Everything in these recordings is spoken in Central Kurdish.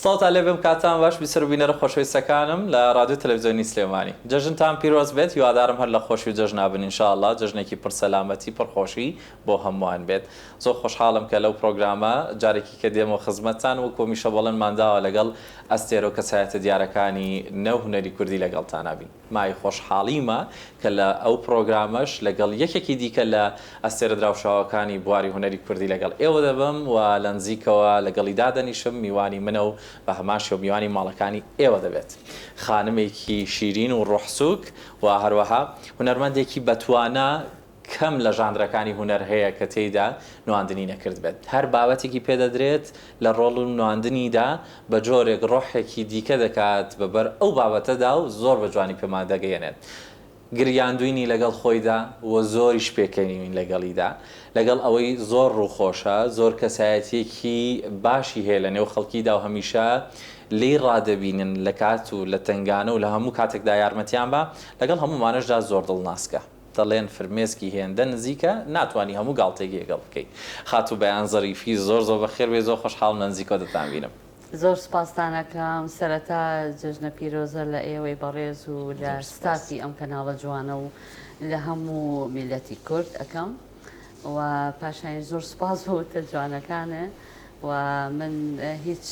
سڵاوتان لێ بێم کاتتان باش بیسەر و بینەرە خۆشەویستەکانم لە ڕادیۆ تەلەفزیۆنی سلێمانی جەژنتان پیرۆز بێت هیوادارم هەر لە خۆشی و جەژنا بن ان شاء اللە جەژنێکی پڕ سەلامەتی پڕ خۆشی بۆ هەمووان بێت زۆر خۆشحاڵم کە لەو پڕۆگرامە جارێکی کە دێمەوە خزمەتتان وەکو هەمیشە بەڵێنمان داوە لەگەڵ ئەستێرە و کەسایەتە دیارەکانی نێو هونەری کوردی لەگەڵتانا بین. مای خۆشحاڵیمە کە لە ئەو پڕۆگرامەش لەگەڵ یەکێکی دیکە لە ئەستێرە دراوشاوەکانی بواری هونەری کوردی لەگەڵ ئێوە دەبم و لە نزیکەوە لەگەڵی دادەنیشم، میوانی منە و بە هەمان شێوە میوانی ماڵەکانی ئێوە دەبێت. خانمێکی شیرین و ڕۆحسووک و هەروەها هونەرمەندێکی بەتوانا. کەم لە ژانرەکانی هونەر هەیە کە تێیدا نواندنی نەکردبێت، هەر بابەتێکی پێ دەدرێت لە ڕۆڵ و نواندنیدا بە جۆرێک ڕۆحێکی دیکە دەکات بە بەر ئەو بابەتەدا و زۆر بە جوانی پێمان دەگەیەنێت گریاندوینی لەگەڵ خۆیدا و زۆریش پێکەنیوین لەگەڵیدا لەگەڵ ئەوەی زۆر ڕووخۆشە زۆر کەسایەتیەکی باشی هەیە لە نێو خەڵکیدا و هەمیشە لێی ڕادەبینن لە کات و لە تەنگانە و لە هەموو کاتێکدا یارمەتیان بە لەگەڵ هەموومانەشدا زۆر دڵناسکە. دەڵێن فرمێسکی هێندە نزیکە ناتوانی هەموو گاڵتەیەکی لەگەڵ بکەی خاتوو بەیان زەریفی زۆر زۆر بەخێر بێی زۆر خۆشحاڵم لە نزیکەوە دەتان بینم. زۆر سوپاستان ئەکەم سەرەتا جەژنە پیرۆزە لە ئێوەی بەڕێز و لە زۆر سوپاس. ستافی ئەم کەناڵە جوانە و لە هەموو میلەتی کورد ئەکەم و پاشایش زۆر سوپاس بۆ وتە جوانەکانە و من هیچ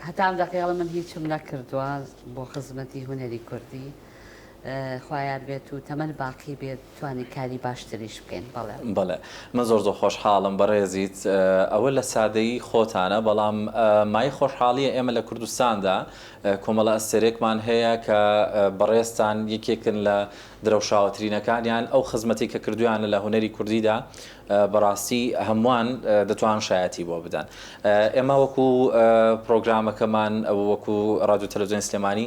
هەتا ئەم دەقەیەڵە من هیچم نەکردوە بۆ خزمەتی هونەری کوردی خوایاربێت و تەمەن باقی بێت توانین کاری باشتریش بکەین بەڵێ. بەڵێ من زۆر زۆر خۆشحاڵم بەڕێزیت ئەوە لە سادەیی خۆتانە بەڵام مایەی خۆشحاڵیە ئێمە لە کوردستاندا کۆمەڵە ئەستێرێکمان هەیە کە بەڕێزتان یەکێکن لە درەوشاوەترینەکانیان ئەو خزمەتەی کە کردویانە لە هونەری کوردیدا بەڕاستی هەمووان دەتوان شایەتی بۆ بدەن ئێمە وەکو پرۆگرامەکەمان وەکو ڕادیو تەلەڤزیۆنی سلێمانی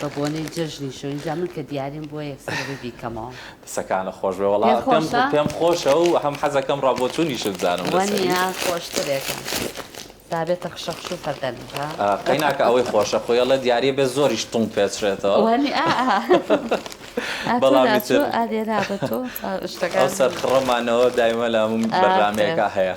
بە بۆنەی جەژنی شۆین جا من کە دیاریم بۆ یەکسەر بە بیکەمەوە دەسەکانە خۆش بێ وەڵا پێم پێم خۆشە و هەم حەزەکەم ڕابۆچوونیشت زانم وەنیە خۆشترێکە دابێتە خشەخش و فەردەن قەیناکە ئەوەی خۆشە خۆیڵە دیارە بێ زۆریش تونگ پێچرێتەوە وەنی بەڵام ئەدێرا بە تۆ شتەکە سەرخڕەمانەوە دایمە لە بەرنمەیەەکە هەیە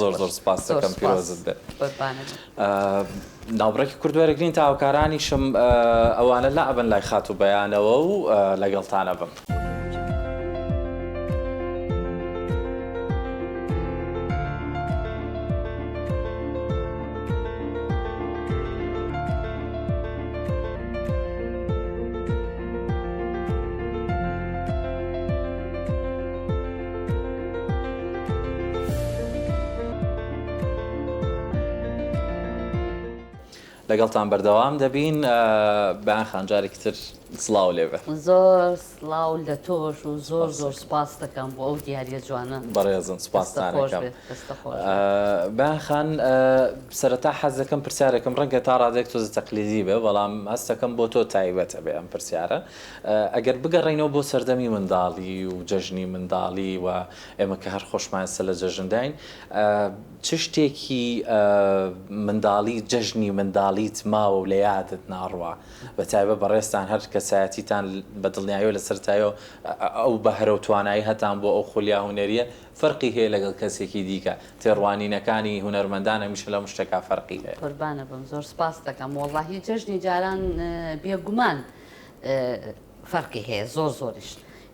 زۆر زۆر سپاست دەکەم پیرۆزت بێت ناوبڕێکی کورد وەرەگرین تا هاوکارانیشم ئەوانە لا ئەبن لای خات و بەیانەوە و لەگەڵتانە بم. لەگەڵتان بەردەوام دەبین بەیان خان جارێکی تر سڵاو لێ بێ زۆر سڵاو لە تۆش و زۆر زۆر سپاس دەکەم بۆ ئەو دیارە جوانە بەڕێزم سپاستانەکەم بەیان خان سەرەتا حەز دەکەم پرسیارێکم ڕەنگە تا ڕادێک تۆزە تەقلیدی بێ بەڵام هەستەکەم بۆ تۆ تایبەتە بێ ئەم پرسیارە ئەگەر بگەڕێینەوە بۆ سەردەمی منداڵی و جەژنی منداڵی و ئێمە کە هەر خۆشمان ئێستا لە جەژنداین، چ شتێکی منداڵی جەژنی منداڵیت ماوە و لە یادت ناڕوا؟ بە تایبەت بەڕێزتان هەر کەسایەتیتان بە دڵنیایی و لە سەرەتایەوە ئەو بەهرە و توانایهتان بۆ ئەو خولیا هونەرییە فەرقی هەیە لەگەڵ کەسێکی دیکە، تێڕوانینەکانی هونەرمەندان هەمیشە لەم شتەکە فەرقی هەیە. قوربانت بم زۆر سپاست دەکەم، وەڵڵاهی جەژنی جاران بێگومان، فەرقی هەیە زۆر زۆریش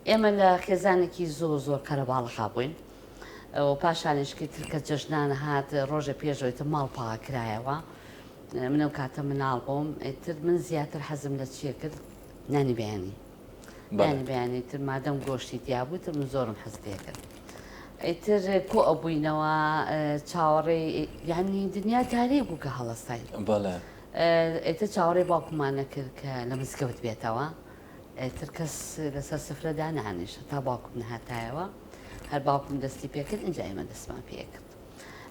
ئێمە لە خێزانێکی زۆر زۆر کەرە باڵەخا بووین و پاشانیشکی ترکە جەژنانە هات ڕۆژە پێشەوەیتە ماڵ پاکرایەوە منە و کاتە مناڵ بووم تر من زیاتر حەزم لە چیە کرد نانی بەیانی نانی بەیانی تر مادەم گۆشتی دیابوو تر من زۆرم حەز پێکرد ئیتر کۆ ئەبووینەوە چاوەڕێ یعنی دنیا تاریک بوو کە هەڵستای بەڵێ ئێتر چاوەڕێی باوکممان نەکرد کە لە مزگەوت بێتەوە، ئێتر کەس لەسەر سفرە دانانیشت هەتا باوکم نەهاتایەوە، هەر باوکم دەستی پێکرد ئینجا ئێمە دەستمان پێکرد.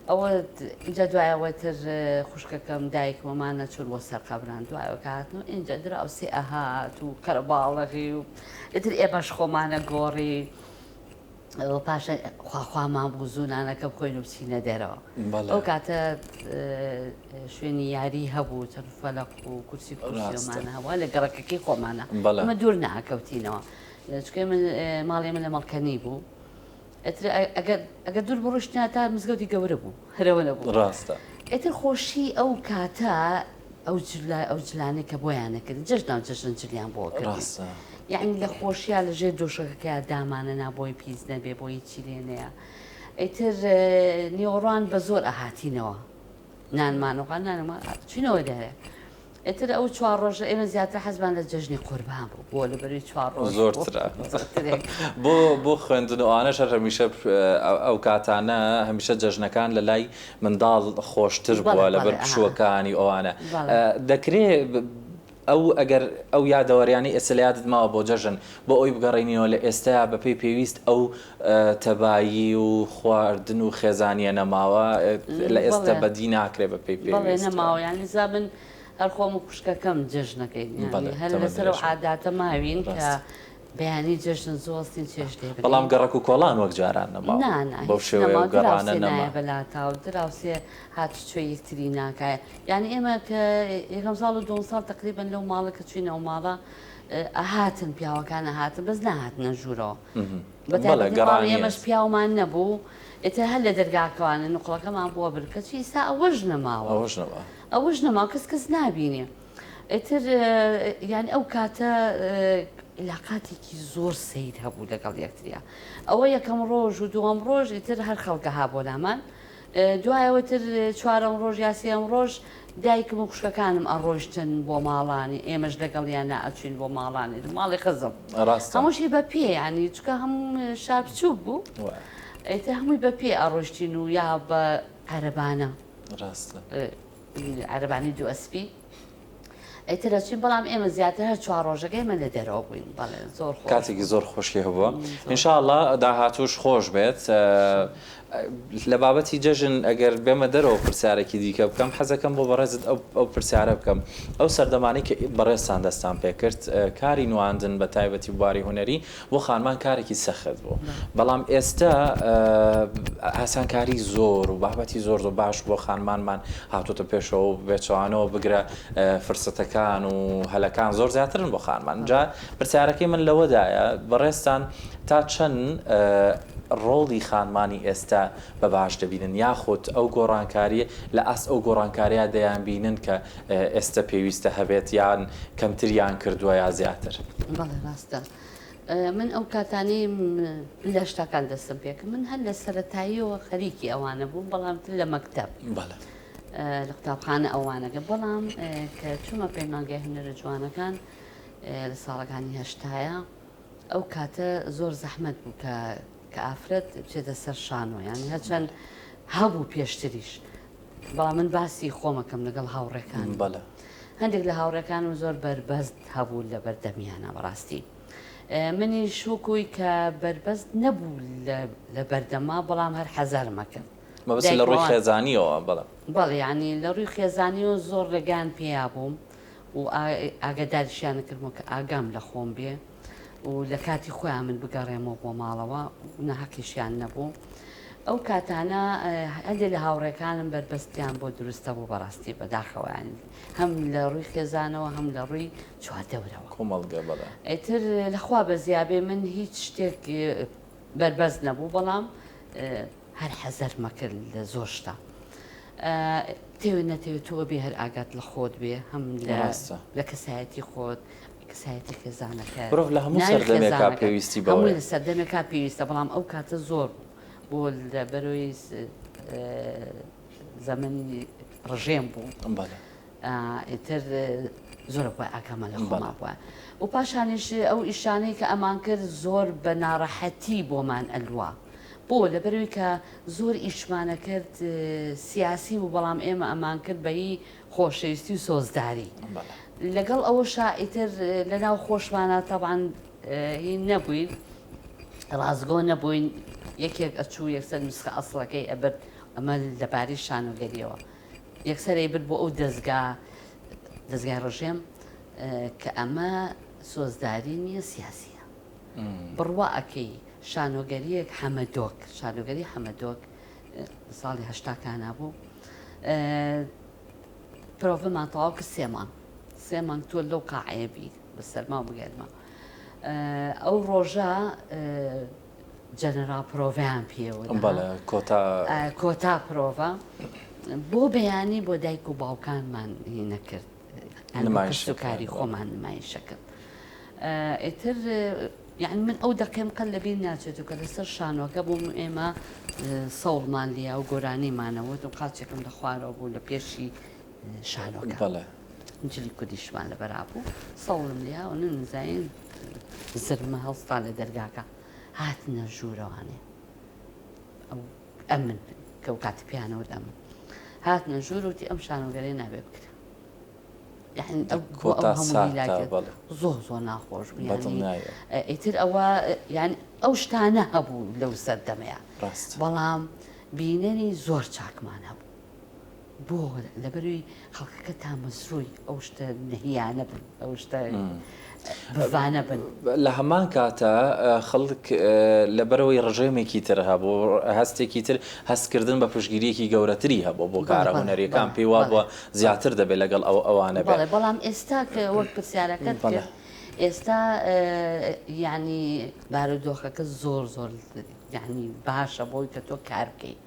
ئەوە ئینجا دوای ئەوە تر خوشکەکەم دایکم ئەمان نەچوون بۆ سەر قەبران دوایەوە کە هاتن و ئینجا دراوسێ ئەهات و قەرەباڵەغی و ئێتر ئێمەش خۆمانە گۆڕی. و پاشان خوا خوا مابوو زوو نانەکە بخۆین و بچینە دەرەوە ئەو کاتە شوێنی یاری هەبوو چەند فەلق و کورسی کورسیمان هەوا لە گەڕەکەکەی خۆمانە ئەمە دوور ناکەوتینەوە چکێ من ماڵێ من لە مەڵکەنی بوو ئەگەر دوور بڕشتنا تا مزگەوتی گەورە بوو هەرەوە نەبوو ڕاستە ئێتر خۆشی ئەو کاتە ئەو جلە ئەو جلانەی کە بۆیانە کرد جەژ ناو جەژن جلیان بۆ کرد یعنی لە خۆشییا لە ژێر دۆشەکەکە دامانە نابۆی پیس نەبێ بۆ هیچی لێ نەیە ئەیتر نیۆڕان بە زۆر ئەهاتینەوە نانمانەوە نانمان چینەوە دەێ ئێتر ئەو چوار ڕۆژە ئێمە زیاتر حەزمان لە جەژنی قوربان بوو بۆ لە بەروی چوار ڕۆژ زۆرتر بۆ بۆ خوێندن ئەوانە شەر هەمیشە ئەو کاتانە هەمیشە جەژنەکان لە لای منداڵ خۆشتر بووە لەبەر پشووەکانی ئەوانە دەکرێ ئەو ئەگەر ئەو یادەوەریانەی ئێستا لە یادت ماوە بۆ جەژن بۆ ئەوی بگەڕێنیەوە لە ئێستایا بەپێی پێویست ئەو تەبایی و خواردن و خێزانیە نەماوە لە ئێستا بەدی ناکرێ بەپێی پێویست؟ بەڵێ نەماوە یانی زا من هەر خۆم و خوشکەکەم جەژنەکەین هەر لەسەر ئەو عاداتە ماوین کە بەیانی جەژن زۆڵ سین چێژ لێ بنێ. بەڵام گەڕەک و کۆڵان وەک جاران نەما. نا نا بەو هیچ شێوەیە نەما و گەڕانە دراوسێ نەما. نایە بە لاتا و دراوسێ هاتوچۆی یەکتری ناکا. یانی ئێمە کە یەکەم ساڵ و دووەم ساڵ تەقریبەن لەو ماڵە کە چووینە ئەو ماڵە ئەهاتن پیاوەکان ئەهاتن بەس نەهاتنە ژوورەوە. بە بەڵێ تایبەتی ماڵی گەڕانیە. ئێمەش پیاومان نەبوو ئیتر هەر لە دەرگاکەوانە نوقڵەکەمان بۆ بر کەچی ئیستا ئەوەش نەماوە. ئەوەش نەما. ئەوەش نەما کەس کەس نابینێ. ئیتر یانی ئەو کاتە لاقاتێکی زۆر سیر هەبوو لەگەڵ یەکتریا ئەوە یەکەم ڕۆژ و دووەم ڕۆژ ئیتر هەر خەڵکە ها بۆ لامان دوایەوەتر چوارەم ڕۆژ یاسیەم ڕۆژ دایکم و خوشکەکانم ئەڕۆشتن بۆ ماڵانی ئێمەش لەگەڵیان ناچوین بۆ ماڵانی ماڵی خزم هەمووشی بە پێ ینی چکە هەم شار بچوک بوو ئەیتە هەمووی بە پێ ئەڕۆشتین و یا بە قەرەبانە ڕاستە. عەرەبانی دوو ئەسپی ئیتر ئەچووین بەڵام ئێمە زیاتر هەر چوار ڕۆژەکە ئێمە لە دەرەوە بووین بەڵێ زۆر خۆش کاتێکی زۆر خۆشی هەبووە م، زۆر. ان شاء اللە داهاتووش خۆش بێت ە، لە بابەتی جەژن ئەگەر بێمە دەرەوە پرسیارێکی دیکە بکەم حەزەکەم بۆ بەڕێزت ئەو ئەو پرسیارە بکەم ئەو سەردەمانەی کە بەڕێزتان دەستان پێکرد کاری نواندن بە تایبەتی بواری هونەری بۆ خانمان کارێکی سەخت بوو بەڵام ئێستا ئاسانکاری زۆر و بابەتی زۆر زۆر باش بۆ خانمانمان هاتوتە پێشەوە و بێچوانەوە بگرە فرسەتەکان و هەلەکان زۆر زیاترن بۆ خانمان جا پرسیارەکەی من لەوەدایە بەڕێستان تا چەند ڕۆڵی خانمانی ئێستا بە باش دەبینن یاخود ئەو گۆڕانکاریە لە ئاست ئەو گۆڕانکاریا دەیان بینن کە ئێستا پێویستە هەبێت یان کەمتریان کردووە یا زیاتر بەڵێ ڕاستە من ئەو کاتانەی لە شتەکان دەستم پێکە من هەر لە سەتاییەوە خەریکی ئەوانە بووم بەڵام لە مەکتب لە قوتابخانە ئەوانەکە بەڵام کە چوومە پەیمانگای هەنەرە جوانەکان لە ساڵەکانی هەشتایە ئەو کاتە زۆر زەحمت بوو کە کە ئافرەت بچێتە سەر شانۆ یانی هەچەند هەبوو پێشتریش بەڵام من باسی خۆمەکەم لەگەڵ هاوڕێکانم هەندێک لە هاوڕێکانم زۆر بەربەست هەبوو لە بەردەمیانە بەڕاستی منیش وکوی کە بەربەست نەبوو لە بەردەما بەڵام هەر حەزارمەکرد مەبەست لە ڕووی خێزانیەوە بەڵ بەڵیانی لە ڕووی خێزانی و زۆر ڕێگان پێیا بووم و ئاگەداریشیان کردم کە ئاگام لە خۆم بێ و لە کاتی خۆیان من بگەڕێمەوە بۆ ماڵەوە نەهەقیشیان نەبوو ئەو کاتانە هەندێک لە هاوڕێکانم بەربەستیان بۆ دروستە بوو بەڕاستی بەداخەوەیان هەم لە ڕووی خێزانەوە هەم لە ڕووی چواردەورەوە کۆمەڵگە بەڵێ ئەتر لەخوا بە زیابێ من هیچ شتێک بەربەست نەبوو بەڵام هەر حەزەر مەکرد لە زۆر شتا تێوێ نەتێوێت تۆوە بێ هەر ئاگات لە خۆت بێ هەم لە کەسایەتی خۆت کەسایەتی خێزانەکە مرۆڤ لە هەموو ناوی سەردەمێکا خێزانەکە پێویستی بەوەیە. هەموو لە سەردەمێکا پێویستە بەڵام ئەو کاتە زۆر بوو بۆ لە بەرەوەی س- ئە، زەمەنی ڕژێم بوو بەڵێ. ئا، ئیتر زۆرە بووە ئاگامان لە خۆمان بەڵێ. بووە و پاشانیش ئەو ئیشانەی کە ئەمان کرد زۆر بە ناڕەحەتی بۆمان ئەلوا بۆ؟ لە بەرەوەی کە زۆر ئیشمانە کرد سیاسی بوو بەڵام ئێمە ئەمان کرد بە ی خۆشەویستی و سۆزداری لەگەڵ ئەوەشا ئیتر لەناو خۆشمانە تەبان هین نەبووین ڕاستگۆ نەبووین یەکێک ئەچوو یەکسەر نوسخە ئەسڵەکەی ئەبرد ئەمە لەباری شانۆگەریەوە یەکسەرەی برد بۆ ئەو دەستگا دەستگای ڕژێم کە ئەمە سۆزداری نییە سیاسیە بڕوا ئەەکەی شانۆگەریەک حەمەدۆک شانۆگەری حەمەدۆک ساڵی هەشتا کانا بوو پرۆڤمان تەواو کرد سێ مانگ سێ مانگ تۆ لەو قاعەیە بی بە سەرما و بگەرمە ئەو ڕۆژە جەنەرا پرۆڤیان پێوە کۆتا کۆتا پرۆڤە بۆ بەیانی بۆ دایک و باوکانمان هی نەکرد کاری خۆمان نمایشەکەم ئێتر یعنی من ئەو دەقێم قەل لەبیر ناچێت و کە لەسەر شانۆکە بووم ئێمە سەوڵمان لیا و گۆرانیمانەوە و قاچێکم لە خوارەوە بوو لە پێشی شانۆکە جلی کوردیشمان لە بەرابوو سەوڵم لیا و نزین زرمە هەڵستا لە دەرگاکە هاتنە ژوورەوانێ ئەو ئەمن کە و کاتی پێیانەوت ئەم هاتنە ژوور وتی ئەم شانۆگەرێ نابێ بکرێ زۆ زۆ ناخۆش ئیتر ئەوە یان ئەو شتانە هەبوو لەو سەردەمەیە بەڵام بینەری زۆر چاکمان هەبوو بۆ لەبەروی خەڵکەکە تامەزرۆی ئەو شتە نەهیانە بن ئەو شتە بڤانە بن لە هەمان کاتە خەڵک لەبەرەوەی ڕژێمێکی تر هەبوو هەستێکی تر هەستکردن بە پشگیریەکی گەورەتری هەبوو بۆ کارە هونەرەکان پێی وابووە زیاتر دەبێت لەگەڵ ئەو ئەوانە بێت بەڵام ئێستا وەک پرسیارەکەت کرد ئێستا یعنی بارودۆخەکە زۆر زۆر یعنی باشە بۆی کە تۆ کار بکەیت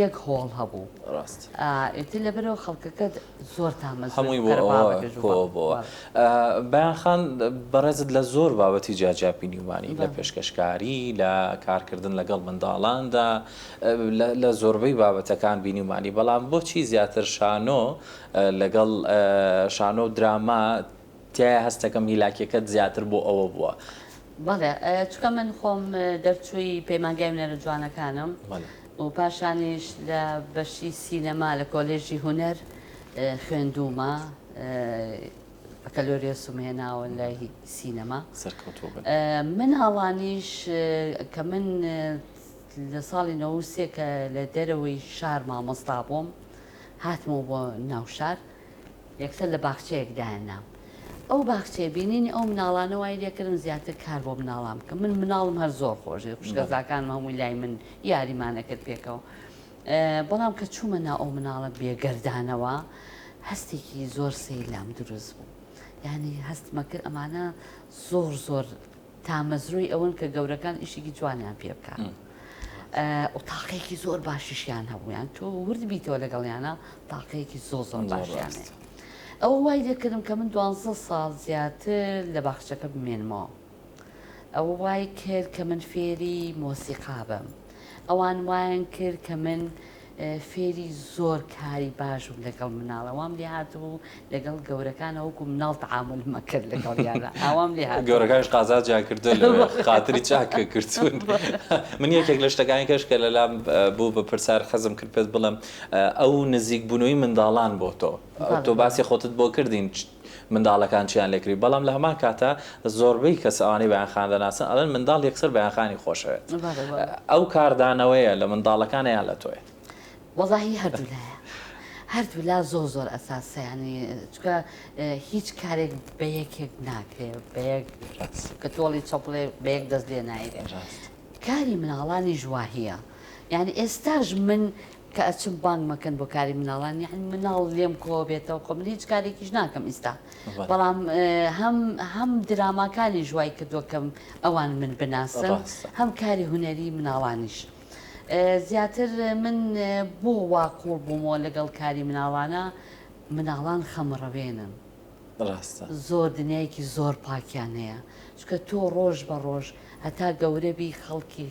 یەک هۆڵ هەبوو ڕاست ئێتر لەبەرەوە خەڵکەکە زۆر تامە هەمووی بۆ بەیانخان بەڕێزت لە زۆر بابەتی جیاجیا بینیومانی لە پێشکەشکاری لە کارکردن لەگەڵ منداڵاندا لە زۆربەی بابەتەکان بینیومانی بەڵام بۆچی زیاتر شانۆ لەگەڵ شانۆ و دراما تایە هەستەکەم هیلاکیەکەت زیاتر بۆ ئەوە بوە. بەڵێ چونکە من خۆم دەرچووی پەیمانگای هونەرە جوانەکانم و پاشانیش لە بەشی سینەما لە کۆلێژی هونەر خوێندوومە بەکەلۆریۆسم هێناوە لە سینەما مناڵانیش کە من لە ساڵی نەوە و سێ کە لە دەرەوەی شار مامۆستا بووم هاتمەوە بۆ ناوشار یەکسەر لە باخچەیەک دایان نام. ئەو باخچەیە بینینی ئەو مناڵانە وای لێکردم زیاتر کار بۆ مناڵان بکەم. من مناڵم هەر زۆر خۆش دەوێت. خوشکەزاکانم هەمووی لای من یاریمان ئەکرد پێکەوە. بەڵام کە چوومە ناو ئەو مناڵە بێگەردانەوە هەستێکی زۆر سەیر لام دروست بوو. یانی هەستمەکرد ئەمانە زۆر زۆر تامەزرۆی ئەوەن کە گەورەکان ئیشێکی جوانیان پێ بکە و تاقەیەکی زۆر باشیشیان هەبوویان تۆ ورد بیتەوە لەگەڵیانە تاقەیەکی زۆ زۆر باشیان ئەو وای دەکردم کە من دوانزە ساڵ زیاتر لە باخچەکە بمێنمەوە ئەوە وای کرد کە من فێری مۆسیقا بم. ئەوان وایان کرد کە من فێری زۆر کاری باشم لەگەڵ مناڵە وام لێ هاتبوو لەگەڵ گەورەکانە وەکو مناڵ تعامل مەکرد لەگەڵ یانە ئاوام لێ هات گەورەکانش قازا جاکردن خاتری چاکە کردون من یەکێک لە شتەکانی کەش کە لەلام بوو بە پرسار خەزم کرد پێت بڵم ئەو نزیک بوونەوەی منداڵان بۆ تۆ تۆ باسی خۆتت بۆ کردین منداڵەکان چیان لێکردی بەڵام لە هەمان کاتە زۆربەی کەس ئەوانەی بەیان خان دەناسن ئەڵێن منداڵ یەکسەر بەیان خانی خۆشەوێت ئەو کاردانەوەیە لە منداڵەکانە یان لە تۆیە؟ وەڵاهی هەردوو لایە هەردوو لا زۆر زۆر ئەساسە ینی چکە هیچ کارێک بە یەکێک ناکرێ بە یەک کە تۆڵی چەپڵێ بە یەک دەست لێ نایرێ کاری مناڵانی ژواهە یعنی ئێستاش من کە ئەچم بانگ مەکەن بۆ کاری مناڵان یەعنی مناڵ لێم کۆبێتەوە خۆ من هیچ کارێکیش ناکەم ئیستا بەڵام هەم هەم دراماکانیش وای کردووە کەم ئەوان من بناسن هەم کاری هونەری مناڵانیش زیاتر من بۆ وا قوڵ بوومەوە لەگەڵ کاری مناڵانە مناڵان خەمڕەوێنن ڕاستە زۆر دنیایەکی زۆر پاکیان هەیە چکە تۆ ڕۆژ بە ڕۆژ هەتا گەورەبی خەڵکی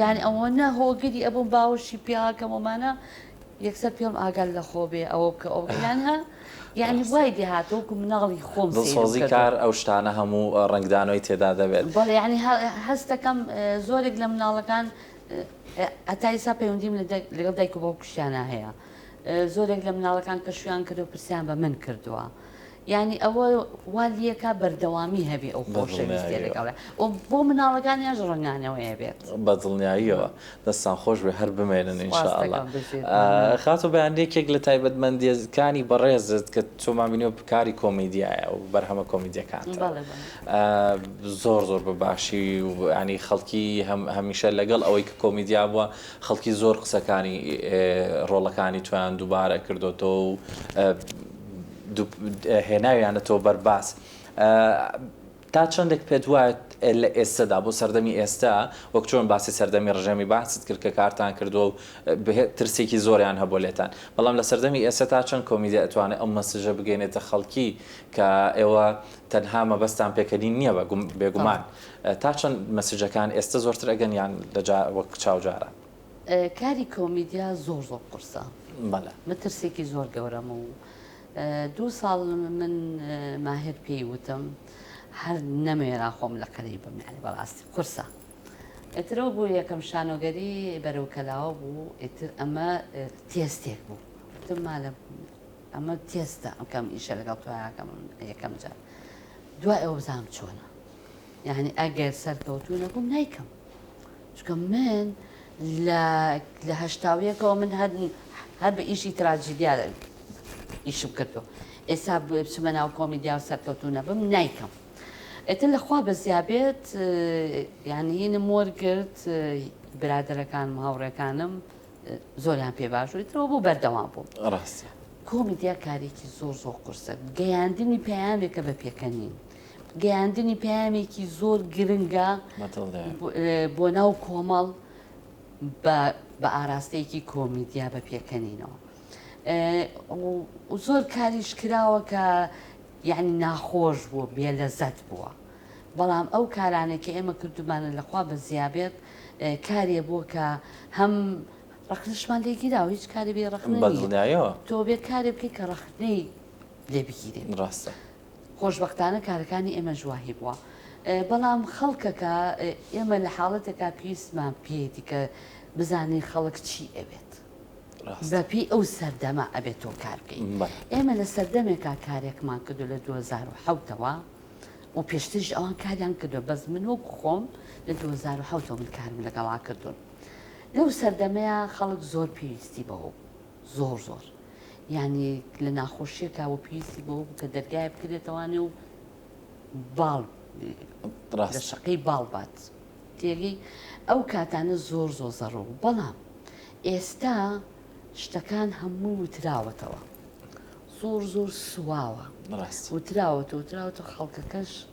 یانی ئەوەنە هۆگری ئەبووم باوەشی پێ ئاکەم وەمانە یەکسەر پێم ئاگات لەخۆ بێ ئەوە بکە ئەو یان ها یانی وای لێ هاتوو وەکو مناڵی خۆم سەیرم کردووە. دڵسۆزی کار ئەو شتانە هەموو ڕەنگدانەوەی تێدا دەبێت. بەڵێ یانی هەست دەکەم زۆرێک لە مناڵەکان هەتا ئیستا پەیوەندیم لەگەڵ دایک و باوکیشیانا هەیە زۆرێک لە مناڵەکان کە شوویان کردووە پرسیان بە من کردووە. یانی ئەوە وا لیەکا بەردەوامی هەبێ ئەو خۆشەویستیە لەگەڵێ و بۆ مناڵەکانیانش ڕەنگانەوەیە بێت بە دڵنیاییەوە دەستان خۆش بێ هەر بمێنن ئینشاءاللە خاتو بەیان یەکێک لە تایبەتمەندیەکانی بەڕێزت کە تۆمان بینیوە کاری کۆمیدیایە و بەرهەمە کۆمیدیەکانتەوە زۆر زۆر بە باشی و ینی خەڵکی هەمیشە لەگەڵ ئەوەی کە کۆمیدیا بووە خەڵکی زۆر قسەکانی ڕۆڵەکانی تویان دووبارە کردوەوە و هێناویانەتەوە بەرباس تا چەندێک پێت وایە لە ئێستەدا بۆ سەردەمی ئێستا وەک چۆن باسی سەردەمی ڕژێمی باست کرد کە کارتان کردو و ترسێکی زۆریان هەبوو لێتان بەڵام لە سەردەمی ئێستا تا چەند کۆمیدیا ئەتوانێت ئەو مەسجە بگەێنێتە خەڵکی کە ئێوە تەنها مەبەستان پێکەنین نییە بە بێگومان تا چەند مەسجەکان ئێستا زۆرتر ئەگەن یان لەجا وەک چاوجارە کاری کۆمیدیا زۆر زۆر قورسە بەڵێ مەترسێکی زۆر گەورەم و دوو ساڵ من ماهر پێی وتم هەر نەمێرا خۆم لە قەری بم یعنی بەڕاستی قورسە ئەترەوە بوو یەکەم شانۆگەری بەرەو کەلاوە بوو ئیتر ئەمە تێستێک بوو وتم مالە ئەمە تێستە ئەمکەم ئیشە لەگەڵ تویاکەم یەکەم جار دوای ئەوە بزانم چۆنە یعنی ئەگەر سەرکەوتو نەبووم نیکەم چونکە من لە لە هەشتا و یەکەوە من هەر هەر بە ئیشی تراجیدیا ئیشم کردو ئێستا بچمە ناو کۆمیدیا و سەرکەوتو نەبم نایکەم ئێتر لەخوا بەزیابێت یعنی هینم وەرگرت برادەرەکانم هاوڕێکانم زۆریان پێ باش و ترەوە بۆ بەردەوام بووم ڕاست کۆمیدیا کارێکی زۆر زۆر قرسە گەیاندنی پەیامێکە بە پێکەنین گەیاندنی پەیامێکی زۆر گرنگە بۆ ناو کۆمەڵ بە ئاراستەیەکی کۆمیدیا بە پێکەنینەوە زۆر کاریش کراوە کە یعنی ناخۆش بووە بێ لەزەت بووە بەڵام ئەو کارانێک کە ئێمە کردومانە لەخوا بە زیابێت کارێ بۆ کە هەم ڕخنشمان لێگیرا و هیچ کاری بێ ڕخنەوە تۆ بێ کارێ بکەی کە ڕخنەی لێ بگیرێت ڕاستە خۆشبەختانە کارەکانی ئێمەش وای بووە. بەڵام خەڵکەکە، ئێمە لە حاڵەتێکا پێویستمان پێیەتی کە بزانین خەڵک چی ئەوێت. بە پێی ئەو سەردەمە ئەبێت تۆ کار بکەیت. ئێمە لە سەردەمێکا کارێکمان کردووە لە دوو هەزار و حەوت ەوە و پێشتریش ئەوان کاریان کردووە، بەس من وەکو خۆم لە دوو هەزار و حەوت ەوە من کارم لەگەڵا کردوون. لەو سەردەمەیا خەڵک زۆر پێویستی بەوە بوو. زۆر زۆر یانی لە ناخۆشیە کاوە پێویستی بەوە بوو کە دەرگایە بکرێتەوانێ و باڵ لە شەقەی باڵ بات تێگەی ئەو کاتانە زۆر زۆر زەڕوو بەڵام ئێستا شتەکان هەموو وتراوەتەوە زۆر زۆر سواوە وتراوەتەوە وتراوەتەوە خەڵکەکەش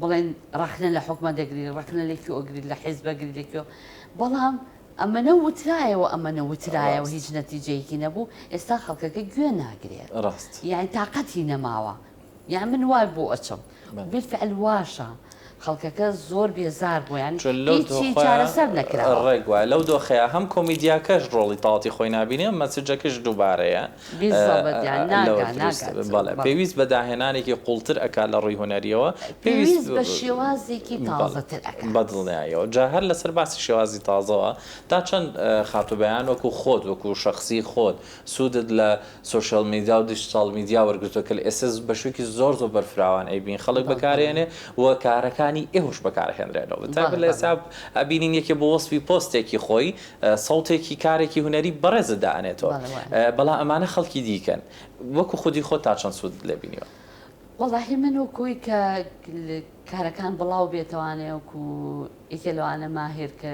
بڵێن ڕەخنە لە حوکمە دەگری ڕەخنە لە کیۆ ئەگری لە حیزب ئەگری لە کیۆ بەڵام ئەمەنە وترایەوە ئەمەنە وترایەوە ڕاست. هیچ نەتیجەیەکی نەبوو ئێستا خەڵکەکە گوێ ناگرێ ڕاست. یانی تاقەتی نەماوە یان من وای بۆ ئەچم بەل. بیلفعل واشە خەڵکەکە زۆر بێزار بووە یانی چۆن لەو هیچی دۆخەیا چارەسەر نەکراوە. ڕێک وایە لەو دۆخەیا هەم کۆمیدیاکەش ڕۆڵی تاتی خۆی نابینێ مەسجەکەش دووبارەیە پێویست بە داهێنانێکی قوڵتر ئەکات لە ڕووی هونەریەوە پێویست بە شێوازێکی تازەتر ئەکات بە دڵنیایەوە جا هەر لەسەر باسی شێوازی تازەوە تا چەند خاتوو بەیان وەکوو خۆت وەکوو شەخسی خۆت سوودت لە سۆشیاڵ میدیا و دیجیتاڵ میدیا وەرگرتووە کە ئێستا بە شێوەکی زۆر زۆر بەرفراوان ئەیبین خەڵک بەکارێنێ و کارەکانی ئێوەش بەکارهێنرێنەوە بە تایبەت لە ئێستا ئەبینین یەکێ بۆ وەسفی پۆستێکی خۆی سەوتێکی کارێکی هونەری بەڕێزت دائەنێتەوە بەڵێ وایە. بەڵام ئەمانە خەڵکی دیکەن وەکو خودی خۆت تا چەند سوودت لێ بینیوە؟ وەڵاهی من وەکوی کە کارەکان بڵاو بێتەوانێ وەکو یەکێ لەوانە ماهر کە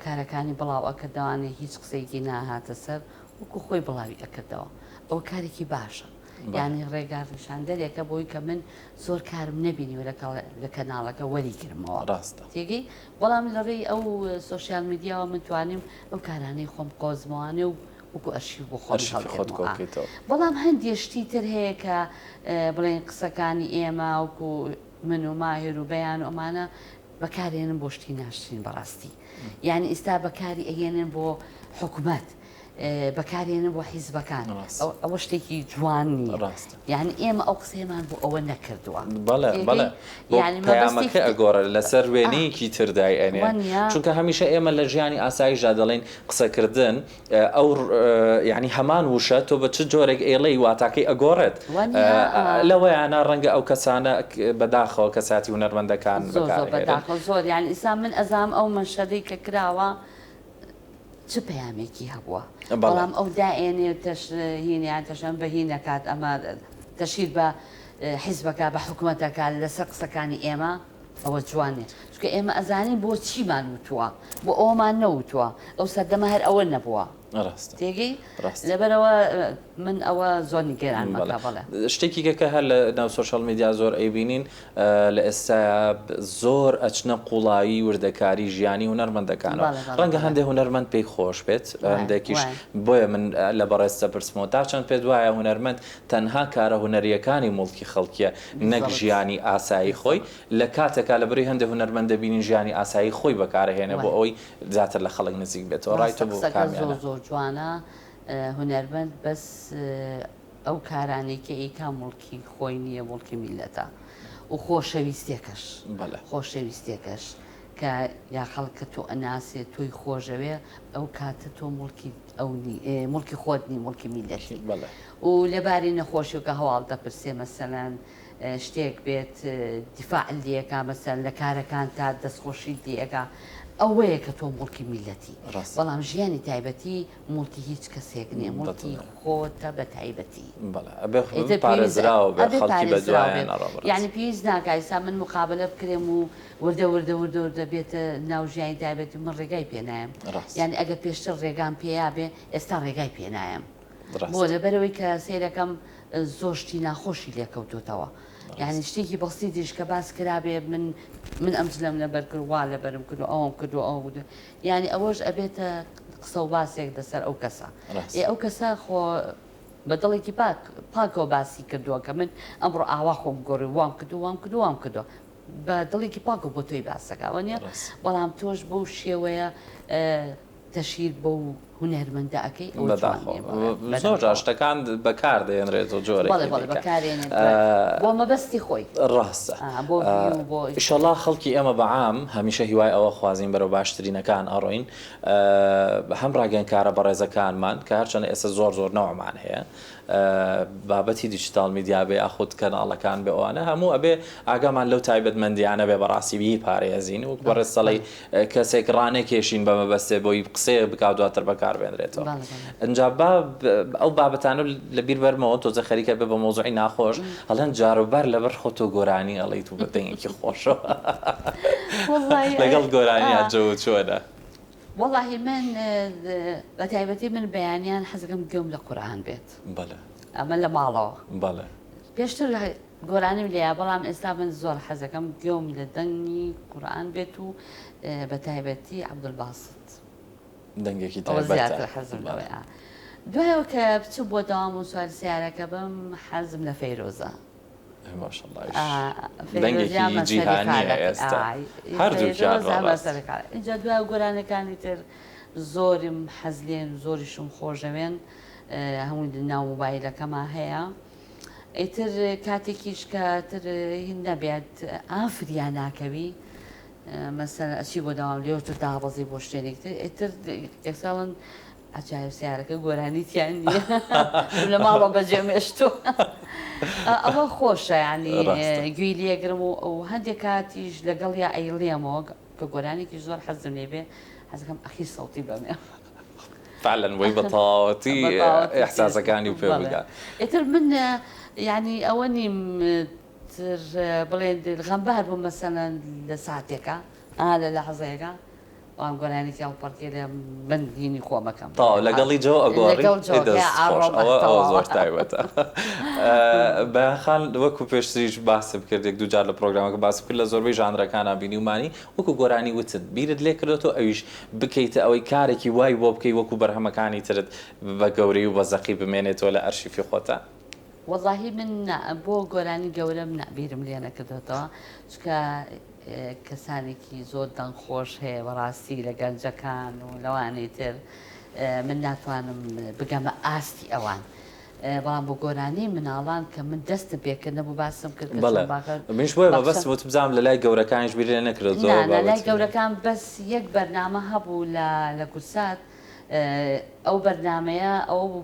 کارەکانی بڵاو ئەکردەوانێ هیچ قسەیەکی ناهاتە سەر وەکو خۆی بڵاوی ئەکردەوە ئەوە کارێکی باشە بەڵێ. یانی ڕێگا ڕیشاندەرێکە بۆی کە من زۆر کارم نەبینیوە لەکەڵ لە کەناڵەکە وەری گرمەوە ڕاستە. تێگەی بەڵام لە ڕێی ئەو سۆشیال میدیاوە من توانیم ئەو کارانەی خۆم بقۆزمەوانێ و وەکو ئەرشیف بۆ خۆم هەڵگرمەوە. بەڵام هەندێ شتی تر هەیە کە بڵێین قسەکانی ئێمە وەکو من و ماهر و بەیان و ئەمانە بەکارێنن بۆ شتی ناشرین بەڕاستی یانی ئیستا بەکاری ئەهێنن بۆ حکومەت بەکارێنن بۆ حیزبەکان ئەوە شتێکی جوان نییە یعنی ئێمە ئەو قسەیەمان بۆ ئەوە نەکردووە بەڵێمەکە ئەگۆڕێت لەسەر وێنەیەکی تردای ئەنێ چونکە هەمیشە ئێمە لە ژیانی ئاساییشدا دەڵێن قسەکردن ئەو یعنی هەمان وشە تۆ بە چ جۆرێک ئێڵەی واتاکەی ئەگۆڕێت لەوەیانە ڕەنگە ئەو کەسانە بەداخەوە کەساتی هونەرمەندەکان زۆر یان ئیسا من ئەزام ئەو مەشەدەی کە کراوە چ پەیامێکی هەبووە بەڵام ئەو دائێنێ تەش هینیان تەشەن بە هی نەکات ئەمە تەشیر بە حیزبەکە بە حکومەتەکە لەسەر قسەکانی ئێمە ئەوە جوانێ چکە ئێمە ئەزانین بۆ چیمان وتووە بۆ ئەومان نەوتووە ئەو سەردەمە هەر ئەوە نەبووە تێگەی لەبەرەوە من ئەوە زۆنی گەران شتێکی گەکە هەر لە ناو سۆشال میدیا زۆر ئەیبینین لە ئێستایا زۆر ئەچنە قوڵایی وردەکاری ژیانی هونەرمەندەکانەوە ڕەنگە هەندێک هونەرمەند پێی خۆش بێت هەندێکیش بۆیە من لە بەڕێز دەپرسمەوە تا چەند پێت وایە هونەرمەند تەنها کارە هونەرییەکانی موڵکی خەڵکیە نەک ژیانی ئاسایی خۆی لە کاتێکا لە بری هەندێک هونەرمەند دەبینین ژیانی ئاسایی خۆی بەکارەهێنێ بۆ ئەوەی زیاتر لە خەڵک نزیک بێتەوە ڕای تۆ بۆ کامیانە؟ ڕاستە قسەکەت زۆر زۆر جوانە هونەرمەند بەس ئەو کارانەی کە ئیکا موڵکی خۆی نییە موڵکی میللەتە و خۆشەویستێکەش بەڵێ خۆشەویستێکەش کە یا خەڵکە تۆ ئەناسێ تۆی خۆشەوێ ئەو کاتە تۆ مڵکی ئەو مڵکی خۆت نی مڵکی میلەتی بەڵێ و لەباری نەخۆشیەکە هەواڵ دەپرسێ مەسەلەن شتێک بێت دیفاع لەکە مەسەر لە کارەکان تا دەستخۆشی لەکە ئەوەیە کە تۆ مڵکی میلەتی بەڵام ژیانی تایبەتی موڵکی هیچ کەسێک نیە موڵکی خۆتە بەتایبەتی ئیتر پێویست ئەبێ پارێزراو بێت یانی پێویست ناکا ئیستا من مقابەلە بکرێم و وردە وردە وردە وردە بێتە ناو ژیانی تایبەتی من ڕێگای پێ نایەم یانی ئەگەر پێشتر ڕێگام پێیا بێ ئێستا ڕێگای پێ نایەم بۆ لەبەرەوەی کە سەیرەکەم زۆر شتی ناخۆشی لێکەوتوتەوە یعنی شتێکی بەستی دیش کە باس کرابێ من من ئەم جلەم لەبەر کرد وا لەبەرم کرد و ئەوم کرد و ئەو یانی ئەوەش ئەبێتە قسەو باسێک دەسەر ئەو کەسە ئێ ئەو کەسە خۆ بە دڵێکی پاک پاکەوە باسی کردووە کە من ئەمڕۆ ئاوا خۆم گۆڕی وام کردو وام کردو وام کردوە بە دڵێکی پاکەوە بۆ تۆی باسەکە ئەوە نیە بەڵام تۆش بەو شێوەیە تەشیر بەو هونەرمەندە ئەکەی ئەوە جوان نیە بەداخەوە زۆر جار شتەکان بەکار دەهێنرێت و جۆرێکی دیکە بەڵێ بەڵێ بەکار هێنێت بۆ مەبەستی خۆی ڕاستە بۆ ڤیو بۆ ئیشەڵا خەڵکی ئێمە بە عام هەمیشە هیوای ئەوە خوازین بەرەو باشترینەکان ئەڕۆین هەم ڕاگەیەنکارە بەڕێزەکانمان کە هەرچەنە ئێستا زۆر زۆر نەوعمان هەیە بابەتی دیجیتاڵ میدیا بێ یاخود کەناڵەکان بێ ئەوانە هەموو ئەبێ ئاگامان لەو تایبەتمەندیانە بێ بەڕاستی بیپارێزین و بەڕێز سەڵەی کەسێک ڕانەکێشین بە مەبەستێ بۆی قسەیەک بکا و دواتر بەکار بێنرێتەوە ئینجا با ئەو بابەتانە لە بیر بەرمەوە تۆزە خەریکە بێ بە مۆزوعی ناخۆش هەڵێن جاروبار لەبەر خۆ تۆ گۆرانی ئەڵیت و بە دەنگێکی خۆشەوە لەگەڵ گۆرانیان جەوت چۆنە؟ وەڵاهی من بەتایبەتی من بەیانیان حەزەکەم گوێم لە قورئان بێت ئەمە لە ماڵەوە پێشتر گۆرانیم لێیە بەڵام ئێستا من زۆر حەزەکەم گوێم لە دەنگی قورئان بێت و بەتایبەتی عەبدولباست دەنگێکی زیاتر حەزم لەوەیە دوایەوە کە بچم بۆ داوام و سواری سیارەکە بم حەزم لە فەیرۆزە ئینجا دوا گۆرانەکانی تر زۆرم حەزلێن زۆریشم خۆشەوێن هەمووی ناو موبایلەکەما هەیە ئیتر کاتێکیش کە تر نەبێت ئافریان ناکەوی مەسەر ئەچی بۆ داوام لێوتر دابەزی بۆ شتێنێکتر ئیتر ئێساڵن عەجایب سەیارەکە گۆرانی تیا نیە چوم لە ماڵەوە بەجێم هێشتوە ئەوە خۆشە یانی گوێی لێگرم و هەندێک کاتیش لەگەڵیا ئەیڵێمەوە کە گۆرانێکی زۆر حەزم لێ بێ حەزەکەم ئەخی سەوتی بەمێ فعلا وەی بەتەواوەتی ئەحساسەکانی پێ بگا ئیتر من یعنی ئەوە نیم بڵێن غەمبار بوو مەسەەن لە ساتێکە ئا لە لە حەزەیەەکە بەڵام گۆرانی کێڵ پەڕکێ لە بن هینی خۆم ئەکەم. تەواو لەگەڵی جۆ ئەگۆڕی؟ لەگەڵ جۆ ئەی دەست خۆش ئەڕۆم ئەوە ئەوە تەواوە. زۆر تایبەتە بەیان خان وەکو پێشتریش باسم کرد یەک دوو جار لە پڕۆگرامەکە باسم کرد لە زۆربەی ژانرەکانا بینیومانی وەکو گۆرانی وتن بیرت لێ کردۆتەوە ئەویش بکەیتە ئەوەی کارێکی وای بۆ بکەی وەکو بەرهەمەکانی ترت بە گەورەی و بە زەقی بمێنێتەوە لە ئەرشیفی خۆتا؟ وەڵاهی من نا بۆ گۆرانی گەورەم نا بیرم لێ نەکردۆتەوە چونکە کەسانێکی زۆر دەنگ خۆش هەیە بەڕاستی لە گەنجەکان و لەوانەی تر من ناتوانم بگەمە ئاستی ئەوان بەڵام بۆ گۆرانی مناڵان کە من دەستم پێکرد نەبوو باسم کرد کە بەڵێ چەند باخە منیش بۆیە بەخشە- مەبەستم وت بزانم لە لای گەورەکانیش بیر لێ نەکرێت زۆر نا نا لای بابەتی- گەورەکان بەس یەک بەرنامە هەبوو لە لە گورسات ئە، ئەو بەرنامەیە ئەوە بوو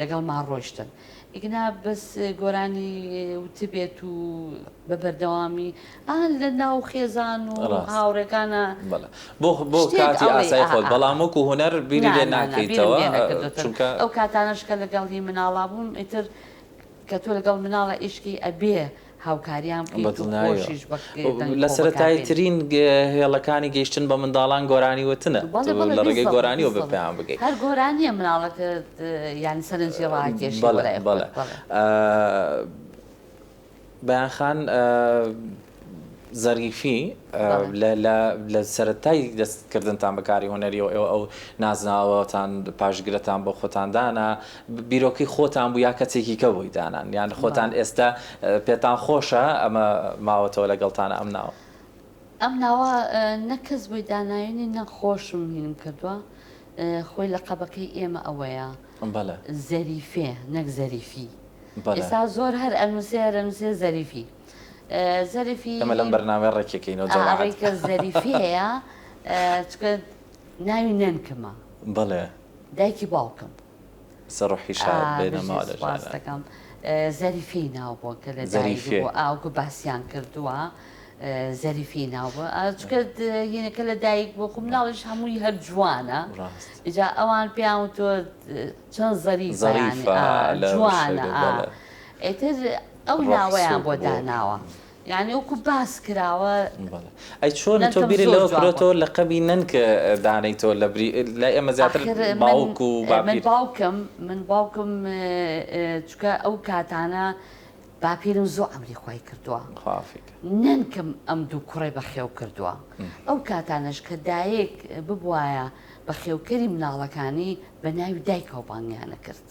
لەگەڵمان ڕۆیشتن ئیگنا بەس گۆرانی وتبێت و بە بەردەوامی ئا لە ناو خێزان و هاوڕێکانە بۆ کاتی ئاسای خۆت بەڵام وەکو هونەر بیری لێ ناکەیتەوە چونکە ئەو کاتانەشکە لەگەڵ هی مناڵا بووم ئیتر کە تۆ لەگەڵ مناڵە ئیشکی ئەبێ هاوکاریان بکەیت و خۆشیش بە دەنگ خۆ بەکار بێنی. لە سەرەتاییترین هێڵەکانی گەیشتن بە منداڵان گۆرانی وتنە. بەڵێ بەڵێ بیست دەقە بیست دەقە. لە ڕێگەی گۆرانیەوە بە پێیان بگەی. هەر گۆرانیە مناڵەکەت یانی سەرنجی ڕاکێشی بۆ لای خۆت. بەڵێ بەڵێ. بەیان خان زەریفی لە سەرەتای دەست کردنتان بە کاری هونەریەوە ئێوە ئەو نازناوەتان پاشگرتان بۆ خۆتان دانا، بیرۆکەی خۆتان بوو یا کەسێکی کە بۆی دانان یان خۆتان ئێستا پێتان خۆشە ئەمە ماوەتەوە لەگەڵتانە ئەم ناوە؟ ئەم ناوە نە کەس بۆی داناوینی نە خۆشم هینم کردووە خۆی لەقەبەکەی ئێمە ئەوەیە زەریفێ نەک زەریفی ئێستا زۆر هەر ئەنووسێ هەر ئەنووسێ زەریفی زەریفی ئەمە لەم بەرنامەیە ڕێکێکەینەوە جەماعەت ڕێکە زەریفی هەیە چونکە ناوی نەنکمە بەڵێ دایکی باوکم. سە رحی شاد بێ نە ما لە جا ران. زەریفی ناو بوە کە لە دایک بو ئا وکو باسیان کردوە زەریفی ناو بوە ئا چکە یەنە کە لە دایک بو خو مناڵیش هەموی هەر جوانە ئیجا ئەوان پێیان وتوە چەن زەریفە یانی ئا جوانە ئا ئیتر ئەو ناوەیان بۆ داناوە یانی وەکو باس کراوە بەڵێ ئەی چۆن تۆ نەنکەم بیرت زۆر لەوە جوان بوو. کرۆتەوە لەقەبی نەنک دانێیتەوە لە بری لای ئێمە زیاتر ئاخر من باوک و من باپیر باوکم من باوکم چونکە ئەو کاتانە باپیرم زۆ عەمری خوای کردووە خوافی کە نەنکم ئەم دوو کوڕەی بەخێو کردووە ئەو کاتانەش کە دایک ببوایە بەخێوکەری مناڵەکانی بەناوی دایکەوە بانگیان ئەکرد.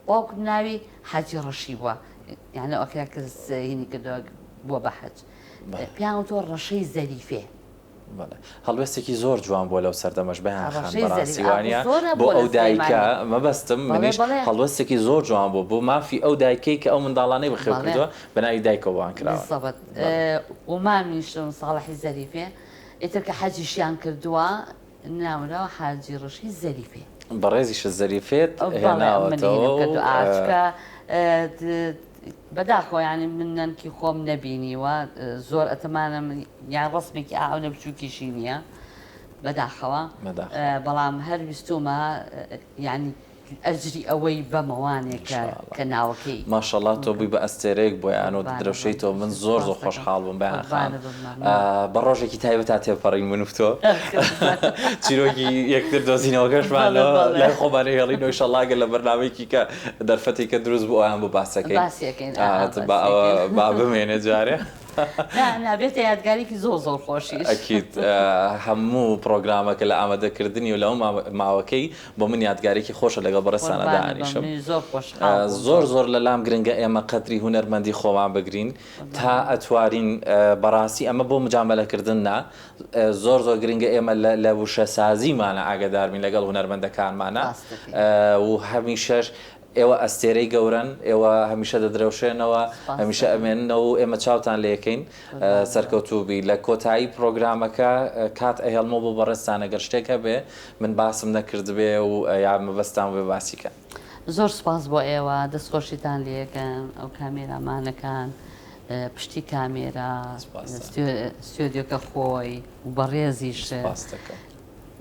باوکم ناوی حاجی ڕەشی بوە یان لەو ئەکرا کرد هینی کردەوە بوە بە حەج پیان وتوە ڕەشەی زەریفێ. هەڵوێستێکی زۆر جوان بووە لەو سەردەمەش بەیان خان بەڕاستی وانە بۆ ئەو دایکە مەبەستم منیش هەڵوێستێکی زۆر جوان بوو بۆ مافی ئەو دایکەی کە ئەو منداڵانەی بەخێو کردووە بە ناوی دایکەوە وان کراوە و مامیشم ساڵحی زەریفێ ئیتر کە حەجیشیان کردووە ناوناوە حاجی ڕەشی زەریفێ. بەڕێزی شە زەریفێت هێناوەتەوە و. بەڵێ منی هێناو کە دوعاچکە بەداخەوە یانی من نەنکی خۆم نەبینیوە زۆر ئەتمانم یان ڕەسمێکی ئائەو نە بچوکیشی نییە بەداخەوە بەڵام هەر ویستومە یانی ئەجری ئەوەی بەمەوانێ کە کە ناوەکەی. ماشەڵا تۆ بووی بە ئەستێرەیەک بۆیان و دەدرەوشێیتەوە من زۆر زۆر خۆشحاڵ بووم بەیان خان بە ڕۆژێکی تایبەتا تێپەڕین من و تۆ چیرۆکی یەکتر دۆزینەوەکەشمان لای خۆمان ئەهێڵین و ئیشەڵا گەر لە بەرنامەیەکی کە دەرفەتی کە دروست بوو ئەویان بۆ باس دەکەین با بمێنێ جارێ نابێتە یادگاریکی زۆر زۆر خۆشیش ئەکید هەموو پڕۆگرامەکە لە ئامادەکردنی و لەو ماوەکەی بۆ من یادگاریکی خۆشە لەگەڵ بەڕێز سانا دائەنیشم زۆر زۆر لە لام گرنگە ئێمە قەدری هونەرمەندی خۆمان بگرین تا ئەتوارین بەڕاستی ئەمە بۆ مجامەلەکردن نا زۆر زۆر گرنگە ئێمە لە وشە سازیمانە ئاگداربین لەگەڵ هونەرمەندەکانمانە و هەمیشەش ئێوە ئەستێرەی گەورەن، ئێوە هەمیشە دەدرەوشێنەوە، هەمیشە ئەمێننەوە و ئێمە چاوتان لێکەین. سەرکەوتووبی. لە کۆتایی پرۆگرامەکە کات ئەهێڵمەوە بۆ بەڕێزتان ئەگەر شتێک هەبێ من باسم نەکردبێ و یا مەبەستتان بێ باسی کەن. زۆر سوپاس بۆ ئێوە، دەستخۆشیتان لێکەن، ئەو کامێرامانەکان پشتی کامێرا، ستۆدیۆکە خۆی و بەڕێزیشت.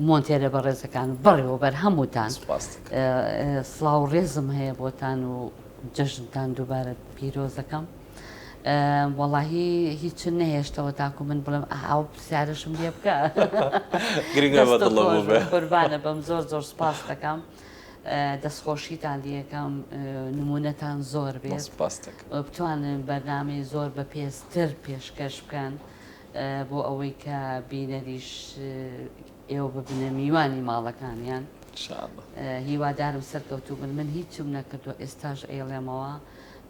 مۆنتێرە بەڕێزەکان و بەڕێوەبەر هەمووتان سوپاست دەکەم. سڵاو و ڕێزم هەیە بۆتان و جەژنتان دووبارە پیرۆز دەکەم. ئە، وەڵاهی هیچن نەهێشتەوە تاکو من بڵێم ئە، ئەو پرسیارەشم لێ بکە. گرنگ بە دەستت دڵەوە خۆش بێ. بن، قوربانە بم، زۆر زۆر سوپاست دەکەم. ئە، دەستخۆشیتان لێ ئەکەم، ئە، نموونەتان زۆر بێت. سوپاست دەکەم. و بتوانن بەرنامەی زۆر بە پێزتر پێشکەش بکەن. بۆ ئەوەی کە بینەریش ئێوە ببنە میوانی ماڵەکانیان ان شاء اللە. هیوادارم سەرکەوتوو بن من هیچم نەکردووە ئێستاش ئەیڵێمەوە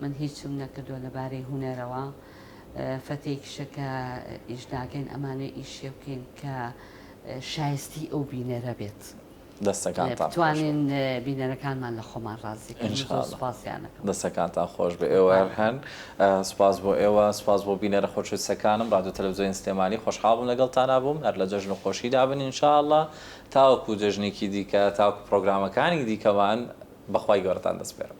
من هیچم نەکردووە لە بارەی هونەرەوە فەتێی کشە کە ئیش ناکەین ئەمانوێ ئیشێ بکەین کە شایستی ئەو بینەرە بێت. دەستەکانتان خۆش بێت. بتوانین بینەرەکانمان لە خۆمان ڕازی کەین. ان شاء اللە. سوپاسیان ئەکەم. دەستەکانتان خۆش بێت. ئێوە هەر هەن. سوپاس بۆ ئێوە. سوپاس بۆ بینەرە خۆشەویستەکانم. ڕادیۆ تەلەفزیۆنی سلێمانی. خۆشحاڵ بووم لەگەڵتانا بووم. هەر لە جەژن و خۆشیدا بن ان شاء اللە. تاوەکو جەژنێکی دیکە، تاوەکو پرۆگرامەکانی دیکەمان بە خوای گەورەتان دەسپێرم.